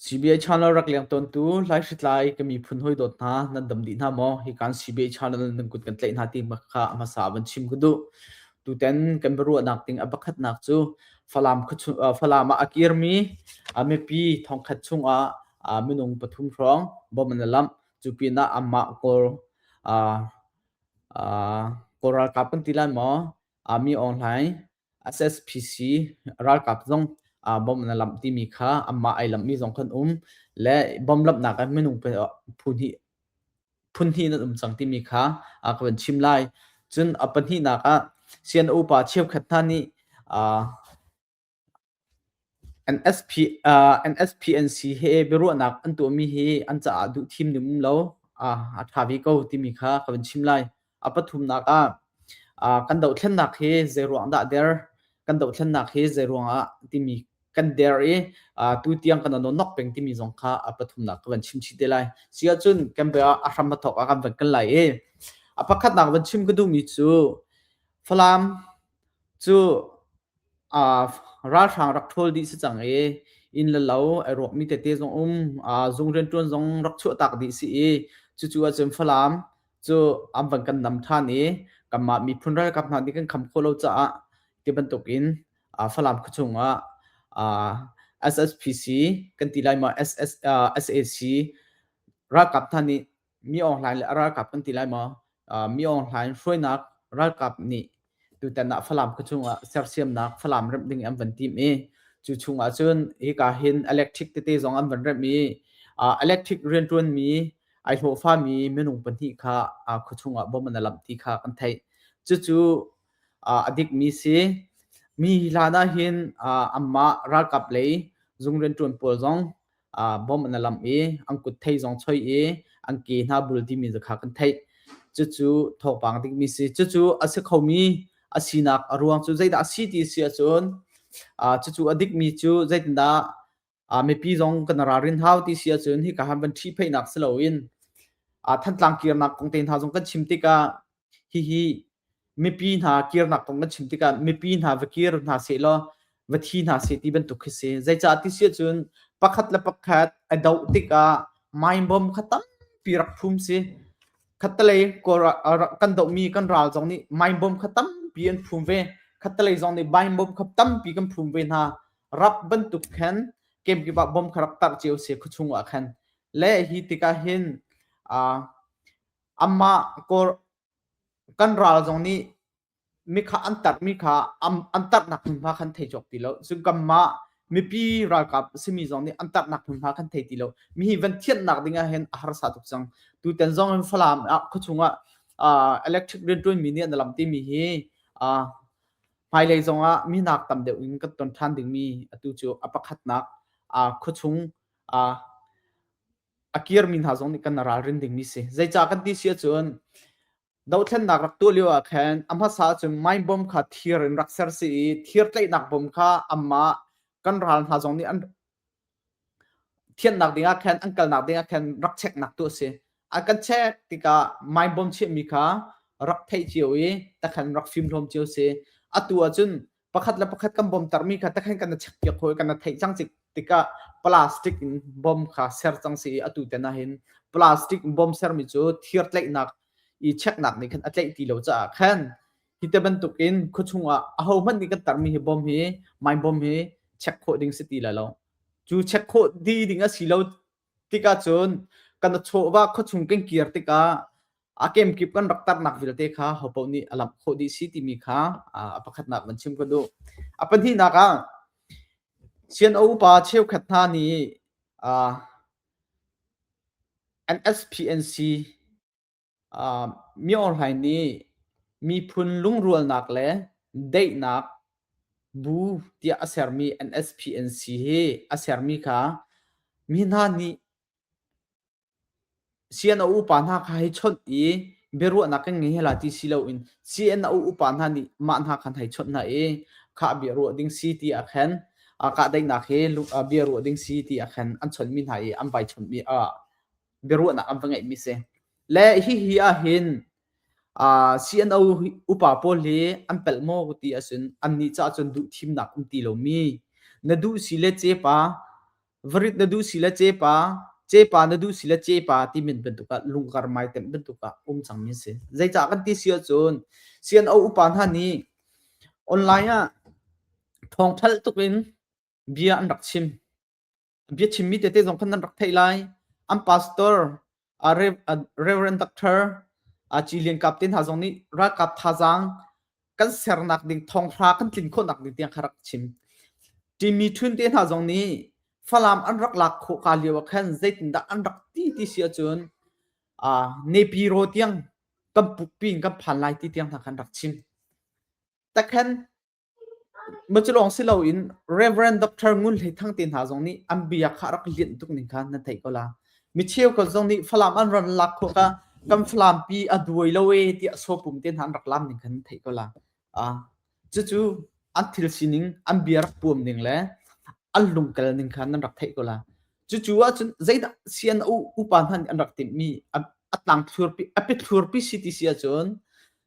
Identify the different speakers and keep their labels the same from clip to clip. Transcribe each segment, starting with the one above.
Speaker 1: CBI channel rak leng tawntu laihritlai ka miphun hawi dawt hna nan dam dih hna maw? Hi kan CBI channel nan kut kan tlaih hna ti kha a hmasa van chim ka duh. Tutan kan biaruahnak ding a pakhatnak cu Falam, Falam ah a kirmi mipi thongkhat chungah minung pathum hrawng bom an lamh. Cu pinah amah Kawl Kawl ralkap kan ti lai maw? Mi Aung Hlaing SSPC ralkap zong bom an lamh timi kha anmah ai lamhmi zong kan um le bom lamhnak ah minung phun hnih nan um cang timi kha ka van chim lai. Cun a pahnihnak ah CNO pa cheukhat hna nih NSP an si he biaruahnak an tuahmi hi an caah duhthim ding um lo a ṭha ve ko timi kha ka vun chim lai. A pathumnak ah kan dohthlennak hi zeiruang dah der, kan dohthlennak hi zeiruang ah timi kan der i tutiang kan nonok peng timi zong kha a pathumnak ka van chim chih te lai. Siahcun kan bia a hram a thawk a kan van kal lai i a pakhatnak van chim ka duhmi cu Falam cu Ralhrang rak ṭhawl dih si cang i inn le lo ai ruakmi tete zong um. Zung rianṭuan zong rak chuahtak dih si i cucu ahcun Falam cu an van kan nam ṭhan i kanmah miphun ralkap hna nih kan kham khawh lo caah ti bantukin Falam khuachung ah SSPC kan ti lai ma, SAC ralkap hna nih mi online le ralkap kan ti lai maw mi online hruainak ralkap nih tutan ah falam ka chung ah sersiamnak falam remh ding an van tim i cu chung ah cun hika hin electric tete zong an van remh i electric riantuan mi ai hlawhfa mi minung pahnih kha khua chung ah bom an alamh ti kha kan theih cucu a dik mi si mi hlan ah hin amma ralkap lei zung riantuan pawl zong bawmh na lamh i an kut thei zong choi i an ke hna bul timi zakha kan theih cucu thawpang dingmi si cucu a si khomi a sinak a ruang cu zeidah a si ti si ahcun cucu a dikmi cu zeitindah mipi zong kan ralrin hau ti si ahcun hika han van ṭhi pheihnak si loin thantlang kirnak kong te hna zong kan chim tikah Hihi mipi hna kirnak kong kan chim tikah mipi hna va kir hna seh law va thi hna seh ti bantuk khi si. Zeicah ti si ahcun pakhat le pakhat a doh tikah mindbomb kha tampi rak phum si. Khattelei kan dohmi kan ral zong nih mindbomb kha tampi an phum ve. Khattelei zong nih mindbomb kha tampi kan phum ve hna. Rap bantuk khan kemkip ah bom kha rak tarh cio se khuachung ah khan. Le hi tikah hin Amah kawr kan ral zong nih mi kha an tarmi kha an tarnak hmunhma khan thei cawk ti lo. Cun kanmah mipi ralkap simi zong nih an tarnak hmunhma kan thei ti lo. Mi hi van thianhnak ding ahhin a harsa tuk cang. Tutan zong in Falam ah khuachung ah electric rianṭuanmi nih an lam timi hi hmailei zong ah mi nak tam deuh in kan ton ṭhan dingmi atu cu a pakhatnak khuachung a kirmi hna zong nih kan ralrin dingmi si. Zeicah kan ti si ahcun dothlennak rak tuah lio ah khan a hmasa ahcun mine bomb kha thir in rak ser si i thir tlaihnak bom kha amah kan ral hna zong nih an thiannak dingah khan an kalnak dingah khan rak checknak tu a si. A kan check tikah mine bomb chiahmi kha rak theih cio i takhan rak fimhlawm cio si. Atu ahcun pakhat le pakhat kan bomtarmi kha takhan kan check piak hawi kan theih cang cik tikah plastic in bom kha ser cang si i atu ten ah hin plastic bom sermi cu thir tlaihnak i checknak nih khan a tlaih ti lo caah khan hi te bantukin khuachung ah aho hmanh nih kan tarmi hi bom hi mai bom hi check khawh ding si ti la lo cu check khawh di ding a si lo tikah cun kan chawva khuachung kan kir tikah a kemkip kan rak tarnak vialte kha hopaoh nih a lamh khawh dih si timi kha a pakhatnak van chim ka duh. A pahnihnak ah Sian O upa cheukhat hna nih an SPNC Miorhlai nih miphun lungrualnak le daihnak bu tiah a sermi NSP an si hi a sermi kha mi hna nih CNO upa hna kha hei chawnh i biaruahnak kan ngei hela ti si loin CNO upa hna nih mah hna khan hei chawnh hna i khah bia ruah ding si ti ah khan kahdaihnak hi bia ruah ding si ti ah khan an chawnhmi hna i an vai chawnhmi ah biaruahnak an va ngeihmi si le hihi ahhin CNO upa pawl hi an pelh maw ti ahcun annih caah cun duh thimnak um ti lomi na duh si le cepa varit na duh si le cepa cepa na duh si le cepa ti min bantuk ah lunggar mai tem bantuk ah um cangmi si zeicah kan ti si ahcun CNO upa hna nih online ah thawngthal tuk in bia an rak chim an biachimmi tete zong khan nan rak theih lai an pastor a reverend doctor a ci lian kap te hna zong nih ralkap thazaang kan sernak ding thonghra kan tlin khawhnak ding tiang kha rak chim timi thun te hna zong nih falam an rak lak khawh ka lio ah khan zeitindah an rak ti ti si ahcun a nepi ro tiang kan pukpi in kan phan lai ti tiang hna khan rak chim takhan Macilawng si loin Rev. Dr. Ngun Hlei Thang te hna zong nih an bia kha a rak lianh tuk ning kha nan theih ko la. Mi cheukhat zong nih Falam an ran lak khawh kha kan Falampi a duai lo e tiah sopum te hna an rak lam ning kha nan theih ko la. Ah, cucu an thil sining, an bia rak puam ning le an lungkal ning kha nan rak theih ko la. Cucu ahcun zeidah sian upa hna nih an rak timhmi a tlang thlurpi a pit thlurpi CTC ahcun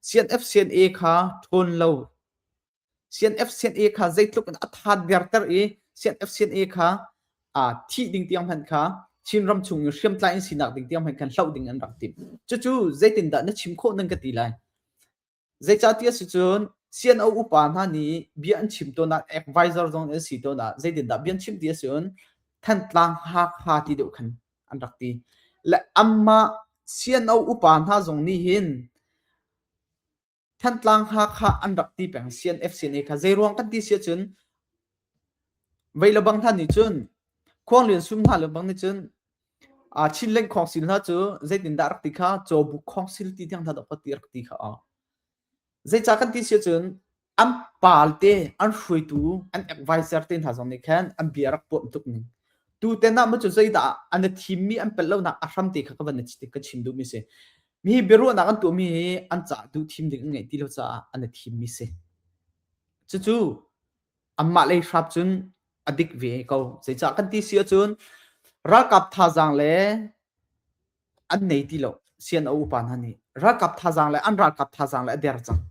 Speaker 1: CNF CNA kha ṭhawn lo CNF CNA kha zeitluk in a than derter i CNF CNA kha aa thih ding tiang hmanh kha Chinram chung in hriamtlai in sinak ding tiang hmanh khan hloh ding an rak timh. Cucu zeitindah na chim khawh nan ka ti lai. Zeicahti a si cun CNO upa hna nih bia an chim tawn ah advisor zong an si tawn ah zeitindah bia an chim ti a si cun Thantlang Hakha ti deuh khan an rak ti. Le anmah CNO upa hna zong nih hin Thantlang Hakha an rak ti peng CNF CNA kha zeiruang kan ti si cun vei le bang hna nih cun Khuanglian sum hna le bang nih cun Chinleng khawngsil hna cu zeitindah rak ti kha Cawbuk khawngsil ti tiang hna dawhphat ti rak ti kha a. Zeica kan ti si cun an palte an hruaitu an advisor te hna zong nih khan an bia rak pawm tuk ning. Tu ten ah macu zeidah an a thimmi an pel lonak a hram te kha ka van ka chim duhmi si. Mi hi biaruahnak an tuahmi hi an cah duh thim ding an ngeih ti lo caah an a thimmi si. Cucu anmah lei hrap cun a dik ve ko zeicah kan ti si ahcun ralkap thazaang le an nei ti lo sian a upa hna nih ralkap thazaang le an ralkap thazaang le a der cang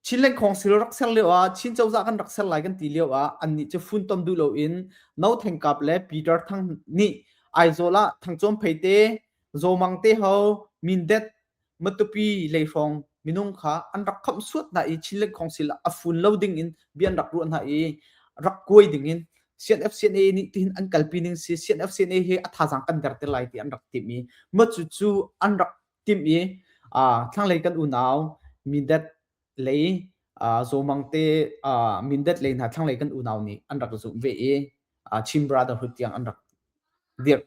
Speaker 1: Chin lengkhong sil rak ser lio ah Chin cozah kan rak ser lai kan ti lio ah annih cu funtom duh lo in No Theng Kap le Peter Thang nih Aizawl ah Thang Chuam Phei te Zo Mang te ho Mindet Matupi lei hrawng minung kha an rak khamh suat hna i Chin Lek Council ah a fun lo ding in bia an rak ruah hna i rak kuai ding in CNFCNA nih tihin an kalpi ning si CNFCNA he a thazaang kan der te lai ti an rak tim i matu cu an rak tim i thlanglei kan unau Mindat lei uh, zomang te uh, mindet lei hna thlanglei kan unau nih an rak zumh ve i uh, Chin Brotherhood tiang an rak dirh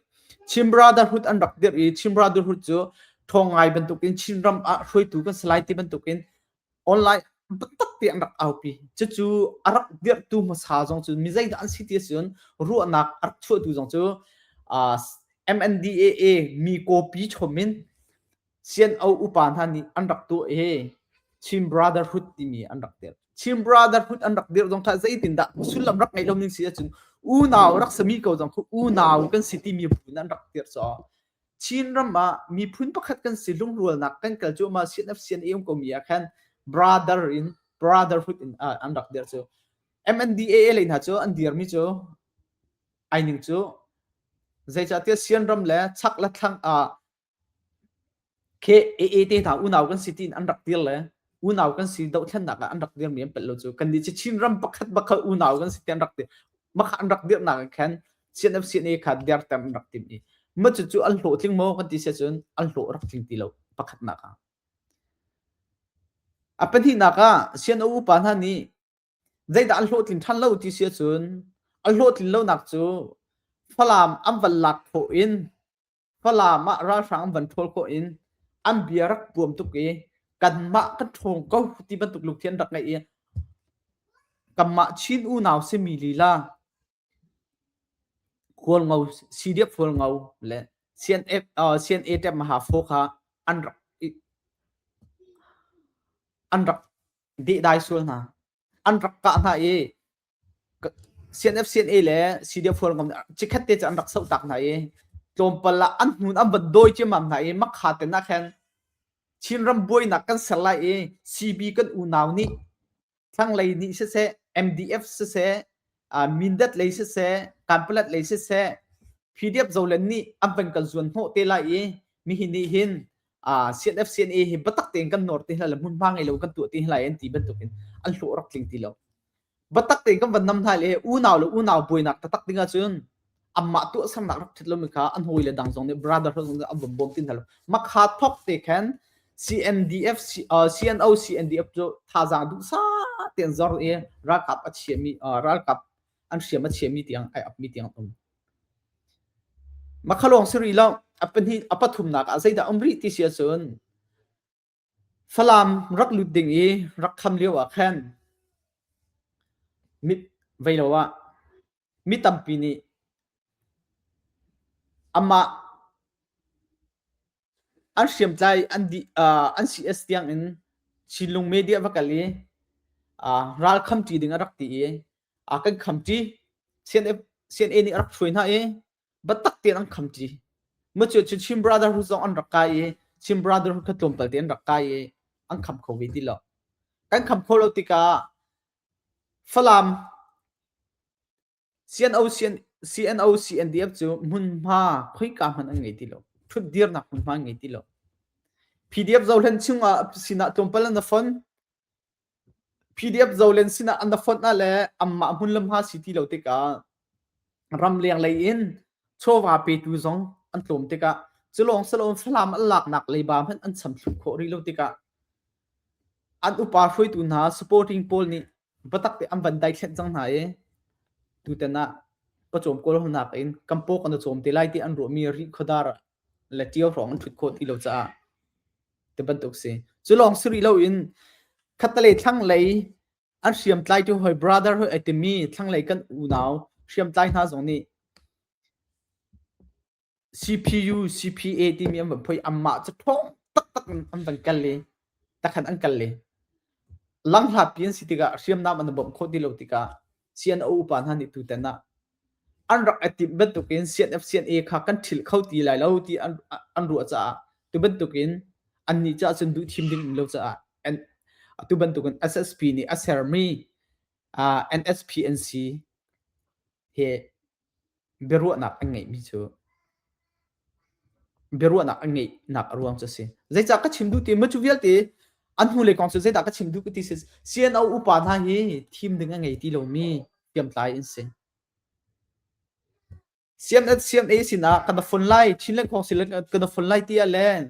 Speaker 1: Chin Brotherhood an rak dirh i Chin Brotherhood cu thong ngai bantukin Chin ram ah hruaitu kan salai ti bantukin online biatak ti an rak aupi cucu a rak dirhtu hmasa zong cu mi zeidah an si ti cun ruahnak a rak chuahtu zong cu uh, MNDAA mi kawpi chomin Sian-o upa hna nih an rak tuah i Chin Brotherhood timi an rak dirh. Chin Brotherhood an rak dirh zong kha zeitindah sullam rak ngei lo ning si ahcun unau rak sami ko zong khu unau kan si timi buin an rak dirh caw. Chin ram ah miphun pakhat kan si lungrualnak kan kal cuahmah CNF-CNAM komi ah khan brother in brotherhood in ah, an rak dirh cu. MNDAA lei hna cu an dirmi cu aining cu zeicahtiah sian ram le chak le thlang ah Khe aa te hna unau kan si tiin an rak dir le unau kan si dohthlennak ah an rak dirmi an pelh lo cu kannih cu Chinram pakhat pakhat unau kan si ti an rak dir maka an rak dirnak ah khan CNFCNA kha der tem an rak tim i ma cucu an hlawh tling maw kan ti si cun an hlawh rak tling ti lo pakhatnak ah a pahnihnak ah CNO upa hna nih zeidah an hlawhtlin ṭhan lo ti si cun an hlawhtlin lonak cu Falam an van lak khawh in Falam ah ralhrang an van ṭhawl khawh in an bia rak tuam tuk i kanmah kan ṭhawng ko ti bantuk lungthin an rak ngeih i kanmah Chin unau simi lila Khualngo CDF Khualngo le CNF uh, CNA Mahafaw kha an rak an rak dehdai sual hna. an rak kah hna i CNFCNA le CDF hualngam cikhat te an rak soh tak hna i tlawmpal ah an hnun an van dawi ciammam hna i makha te nak hen Chinram buainak kan ser lai i CB kan unau nih thlanglei nih siseh MDF siseh Mindat lei siseh Kanpalat lei siseh PDF zolen nih an van kan zuan hnawh te lai i mihi nih hin ah CNF CNA hi batak tein kan nor ti hla le hmunhma ngei lo kan tuah ti hla an ti bantukin an hlawh rak tling ti lo batak tein kan van nam hna le unau le unau buainak tatak dingah cun amma tuah sernak rak thet lomi kha an hoi le dang zong nih brotherhood zong an bom bom tin hlo makha thok te khan CNDF CNO CNDF cu thazang du sa ten zor e ralkap a chiami ralkap an hriam a chiami tiang ai apmi tiang um makhalong siri lo apani apathumnak ah zeidah um rih ti sia cun falam rak lut ding i rak kham lio ah khan mit veilo ah mi tampi nih ama an hriamtlai an dih uh, an CS tiang in Chinlung media va kal i uh, ral khamṭi ding a rak ti i a kan khamṭi CNA nih a rak hruai hna i batak tein an khamṭi macu cu Chin Brotherhood zong an rak kai i Chin Brotherhood kha tlawmpal te an rak kai i an kham kho ve ti lo kan kham kho lo tikah Falam CNO CNDF cu hmunhma khoika hmanh an ngei ti lo ṭhutdirnak hmunhma an ngei ti lo PDF Zohlen chungah sinah tlawmpal an fon PDF Zohlen sinah an fon ah le anmah hmun lamha si ti lo tikah ramleng lei in chawva petu zong an tlawm tikah culawng salawm falam an laknak leiba hmanh an cham thluh khawh rih lo tikah an upa hruaitu hna supporting pawl nih Batak te an van dai thlen cang hna i tutan ah pacawm kawl honak in kampawk an cawm te lai ti an ruahmi ri khuadar le ṭio hrawng an ṭhut khawh ti lo caah ti bantuk si. Cu lawng si rih loin khatalei thlanglei an hriamtlai tu hoi brother hoi ai timi thlanglei kan unau hriamtlai hna zong nih CPU, CPA timi an van phoih anmah cu ṭhawng taktak in an van kal i takhan an kal i langhlatpi an si tikah hriamnam an bawmh khawh ti lo tikah CNO upa hna nih tutan ah an rak i timh bantukin CNF-CNA kha kan ṭhil kho ti lai lo ti an, an ruah caah tu bantukin annih caah cun duh thim ding lo caah tu bantukin SSP nih a sermi uh, NSPNC he biaruahnak an ngeihmi cu biaruahnak an ngeihnak a ruang cu a si. Zeicah ka chim duh ti maw cu vialte an hnulei kong cu zeidah ka chim duh ka ti si CNO upa hna hi thim ding a ngei ti lomi hriamtlai an si. CMA sinah kana fon lai Chin Leng Council kan na fon lai tiah len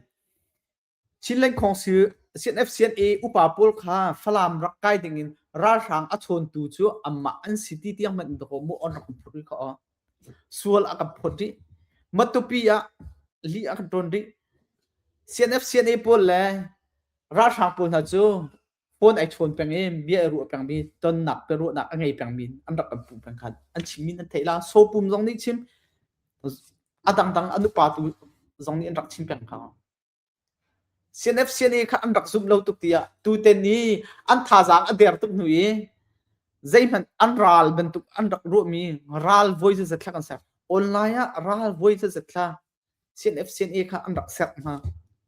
Speaker 1: Chin Lengkhawng Sir CNFCNA upa pawl kha Falam rak kai dingin ralhrang a chawntu cu amah an si ti tiang hmanh dakaw mu on rak phut rih kho. Sual a kan phut rih. Matupi ah li a kan ton rih. CNFCNA pawl le ralhrang pawl hna cu phone ai chawn peng i bia ai ruah pengmi tonnak ka ruahnak a ngei pengmi an rak kan puh peng khan an chim min an theih la sopum zong nih chim a dangdang an upa tu zong nih an rak chim peng kha CNFCNA kha an rak zumh lo tuk tiah tuten ni an thazaang a der tuk hnu i zeihmanh an ral bantuk an rak ruahmi ral voi zat thla kan ser online ah ral voi zat zat thla CNFCNA kha an rak ser hna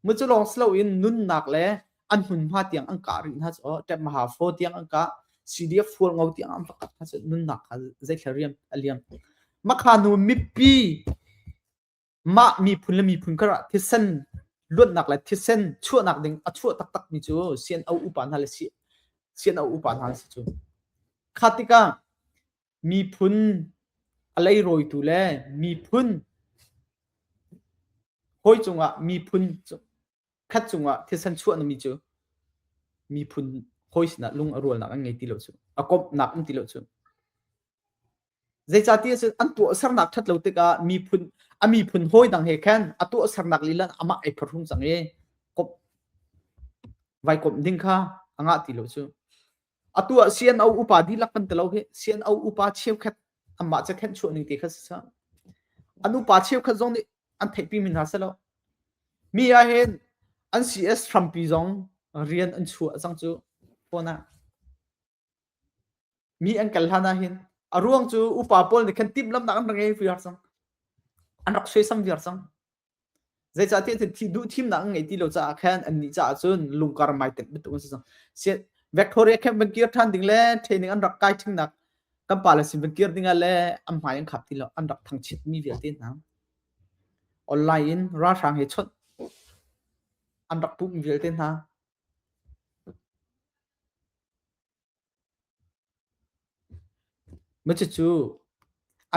Speaker 1: mu cu lawng silo in nunnak le an hmunhma tiang an ka ring hna cu tep maha fo tiang an ka CDF fual ngo tiang an fakat hna cu nunnak kha zeithla riam a liam makha nu mipi mah miphun le miphun karah thisen luatnak le thisen chuahnak ding a chuah taktak mi cu sian o upa hna le si sian o upa hna si cu kha tikah miphun a leirawitu le miphun hawi cungah miphun khat cungah thisen chuahnami cu miphun hawi sinah lung a rualnak an ngei ti lo cu a komhnak um ti lo cu zeicati cu an tuahsernak ṭhat lo tikah miphun a miphun hawi dang he khan a tuahsernak lila amah ei pharum cang i komh vai komh ding kha a ngah ti lo cu atu ah CNO upa dihlak kan tilo hi CNO upa cheukhat anmah cu khenh chuah ning te kha si sa an upa cheukhat zong nih an theihpi mi hna selo mi ah hin an CS Trumpi zong rian an chuah cang cu phone ah mi an kal hlan ah hin a ruang cu upa pawl nih khan timh lamnak an rak ngei vi har cang an rak sui sam viar cang zeicahtiah thih duhthimnak an ngei ti lo caah khan annih caah cun lungkar mai tenh bantuk an si cang Victoria camp van kir ṭhan ding le training an rak kai ṭhingnak kan pale sin van kir dingah le an hmai an khap ti lo an rak thangchit mi vialte hna online in ralhrang he chawnh an rak pum vialte hna Cucu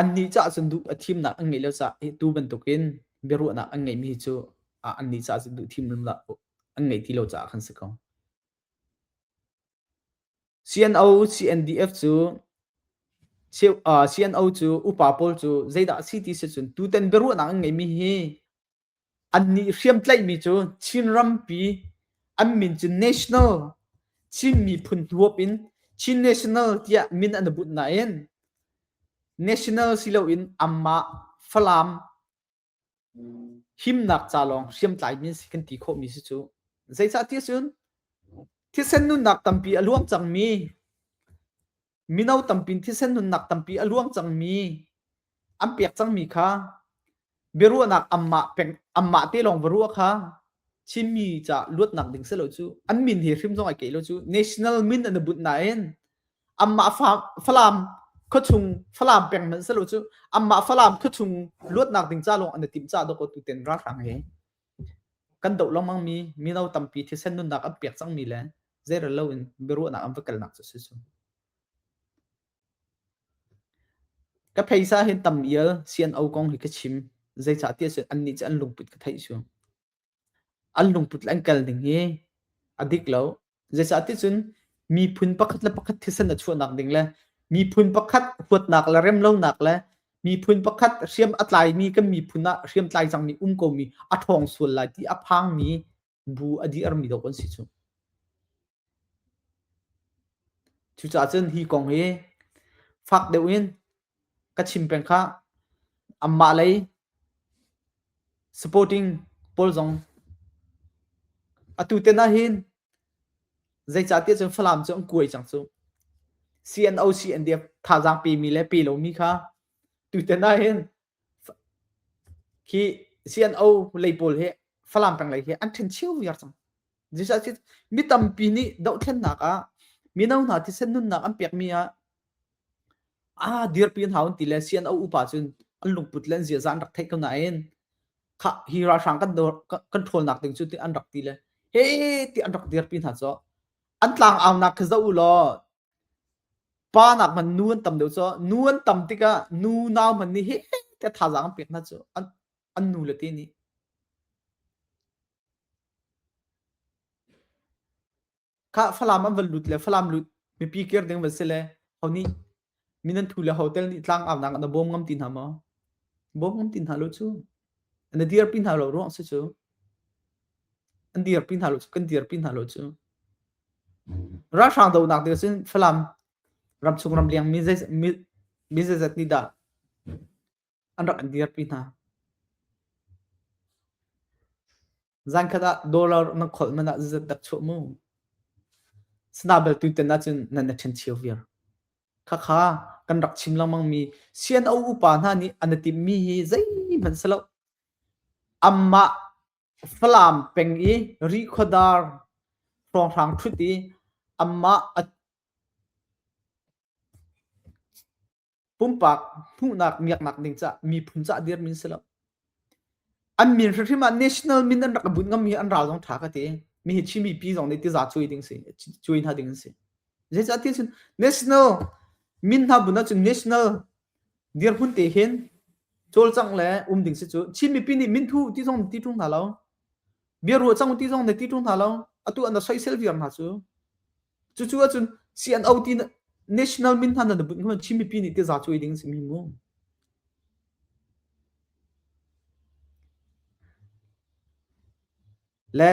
Speaker 1: annih caah cun duh a thimnak an ngeih lio caah hi tu bantukin biaruahnak an ngeihmi hi cu annih caah cun duh thim lunglah an ngei ti lo caah khan si ko. CNO, CNDF cu CNO cu upa pawl cu zeidah a si ti si cun tutan biaruahnak an ngeihmi hi Annih hriamtlaihmi cu Chin rampi an min cu national, Chin miphun hnuop in Chin National tiah min an i bunh nain national si loin amah Falam himnak ca lawng hriamtlaimi an si kan ti khawhmi si cu. Zeicah ti a si cun thisen nunnak tampi a luang cangmi mino tampi thisen nunnak tampi a luang cangmi an pek cangmi kha biaruahnak ammah peng ammah te lawng va ruah kha Chinmi ca luatnak ding selo cu an min hi hrim zong ai ke lo cu national min an bunh nain ammah fa falam khawchung falam peng man selo cu ammah falam khawchung luatnak ding ca lawng an tim ca do ko tu ten ralhrang he Kan doh lengmang mi mino tampi thisen nunnak an pek cangmi le zeirel loin biaruahnak an va kalnak cu si cu. Ka pheisa hin tam ial CNO kong hi ka chim. Zeicahtiah cun annih cu an lungput ka theih cu. An lungput le an kal ning hi a dik lo. Zeicahticun miphun pakhat le pakhat thisen a chuahnak ding le miphun pakhat huatnak le remlonak le miphun pakhat hriam a tlaimi kan miphun ah hriam tlai cangmi um komi a ṭhawng sual lai ti a phangmi bu a dirmi dawh an si cu. Cucaah cun hi kong hi fak deuh in Ka chim peng khah, anmah lei supporting pawl zong atu ten ahhin zeicahtiah cun Falam cu an kuai cang cu. CNO CNDF thazaang pemi le pe lomi kha tutan ahhin khi CNO lei pawl hi Falam peng lei hi an ṭhen cio viar cang. Zeicahtiah mi tampi nih dohthlennak ah mino hna thisen nunnak an pekmi ah ah dirpi hna un ti le sian a upa cun an lungput le an ziaza an rak theih ko nain kha hi ralhrang kan control nak ding cu ti an rak ti le he ti an rak dirpi hna cu an tlang aunak khi zoh u law pa nak man nu an tam deuh cu nu an tam tikah nu nau man ni he te thazaang an pek hna cu an an nu le ti nih Kha Falam an van lut le Falam lut mipi kir ding van si le honi minan thu le hotel nih tlang au nak na bawm ngam ti hna maw bawm ngam ti hna lo cu na dir pi hna lo ruang si cu an dir pi hna lo cu kan dir pi hna lo cu ralhrang do nak dir sin Falam ram chung ram liang mi zai mi zai zat ni da an rak an dir pi hna Zankhat ah dollar na kholh man ah zazat dak chuah mu. Sana bel tu ten cun nan na ṭhen chio viar. Khakha kan rak chim lengmang mi sian au upa hna nih an i tim mi hi zei hman se lo. Amma Falam peng i Rikhodar hrawnghrang ṭhut i amma a Pumpak hmuhnak miaknak ding cah miphun cah dirmin si lo. An min hrim ah national min an rak bunh ngam hi an ral zong tha ka ti. Mi hi chimi pi zong nih tiza cui ding si, cui hna ding si. Zeicah ti cun national min hna bun cun national dir hun te hin cawlcang le um ding si cu Chinmi pi nih min thu ti zong ti ṭung hna lo. Bia ruah cang ti zong ne ti ṭung hna lo. Atu an da soisel viar hna cu. Cucu ahcun CNO ti national min hna nan bunh hman Chin mipi nih ti za cuai ding si mi mu. Le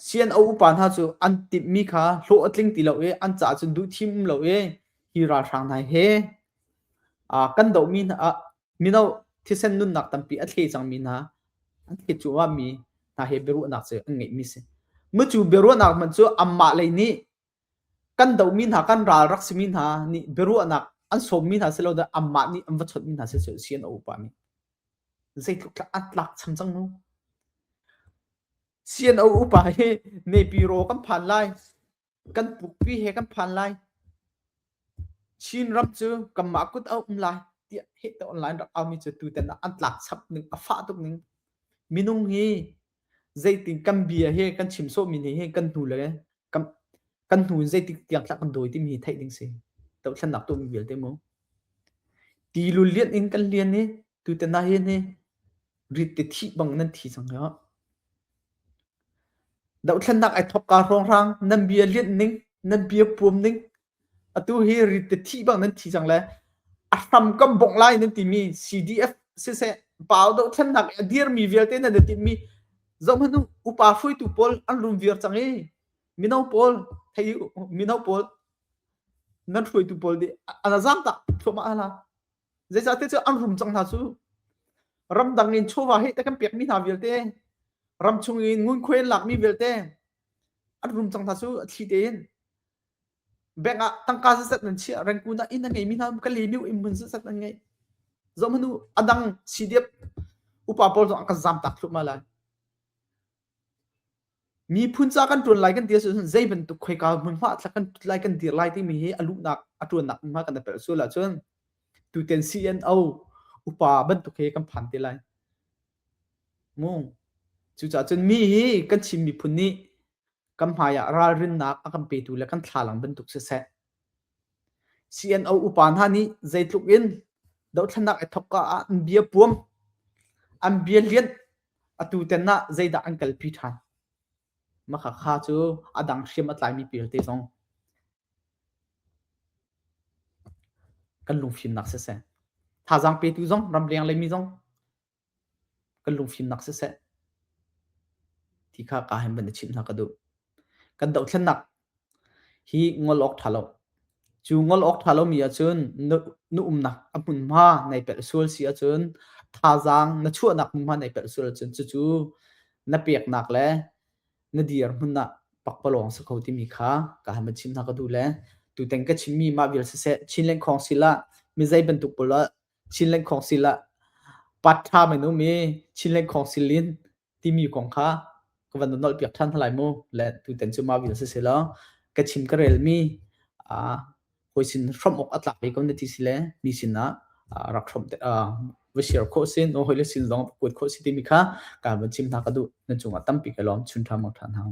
Speaker 1: CNO upa hna cu an timh mi kha hlawh a tling ti lo i an ca cun duh thim lo i hi ralhrang hna he kan doh mi hna Mino thisen nunnak tampi a thle cangmi hna, an thlet cuahmi hna he biaruahnak cu an ngeihmi si. Mucu biaruahnak hmanh cu amah lei nih kan domi hna, kan ral rak simi hna nih biaruahnak an sawmmi hna si lo dah amah nih an va chawtmi hna si cu si an a upami. Zeitluk tlak an tlak cham cang nu. CNO upa hi nepi ro kan phan lai. kan pukpi he kan phan lai. Chin ram cu kanmah kut a um lai tiah heh te online rak aumi cu tuten an tlak chap ning a fah tuk ning. Minung hi zeitin kan bia he kan chim sawhmi ni he kan hnu le kan kan hnu in zeitik tiang thlak kan dawi timi hi theih ding si. To thlennak tu mi vialte mu. Ti lu lian in kan lian hi tuten na hin hi Rit te thih bang nan thi cang hlah. Dohthlennak ai thawk ka hrawnghrang nan bia lianh ning nan bia puam ning atu hi rit te thi bang nan thi cang le a hram kam bongh lai nan timi CDF siseh pau do thlen nak a dir mi vialte nan ti mi zom hanu upa hruitu pawl an rum viar chang i mino pawl thei mino pawl nan hruitu pawl di ana zang ta thoma ala zeicahte cu an rum cang hna cu ramdang in chawva hi te kan pekmi hna vialte ram chung in ngunkhuai an lakmi vialte an rum cang hna cu a thli tein bank ah tangka zat nan chiah rengkun ah inn an ngeimi hna ka limiu in mun zat an ngei zom hanu adang CDF upa pawl zong an kan zam tak thlup ma lai Miphun ca kan ṭuan lai kan ti ahcun zei bantuk khoika hmunhma thlak kan ṭut lai kan dir lai timi hi a luhnak a ṭuannak hmunhma kan rak pelh sual ahcun tutan CNO upa bantuk hi kan phan te lai. Ngung. Cucaah cun mi hi kan Chin miphun nih kan hmai ah ralrinnak a kan petu le kan thlalang bantuk siseh CNO upa hna nih zeitluk in dothlatnak i thawkka ah an bia puam, an bia lianh, atu ten ah zeidah an kalpi ṭhan? Makhakha cu a dang hriam a tlaimi pialte zong kan lungfimnak siseh, thazaang petu zong, ramleng leimi zong kan lungfimnak siseh ti kha kaa hem bantuk chimh hna ka duh. Kan dohthlennak hi ngol awk ṭha lo. Cu ngol awk ṭha lomi ahcun na, na umnak a hmunhma nai pelh sual si ahcun thazaang na chuahnak hmunhma nai pelh sual ahcun cucu na peknak le na dir hmun ah pakpalawng si kho timi kha kaa hem chim hna ka duh le tutan ka chimmi mah vial siseh Chin Lengkhawng sil ah mi zei bantuk pul ah Chinland Council ah paṭha men um i Chinland Council in timi kong kha ka van nolh piak ṭhan hna lai mu le tutan cu mah vial siseh law ka chim ka relmi uh, hawi sin hram awk a tlak ve ko na ti si le mi sinah uh, rak hram te uh, va share kho sin o hoi le sin zong kuat kho si timi kha ka van chim hna ka duh na cungah tampi ka lawm chun ṭha mang ṭhan hang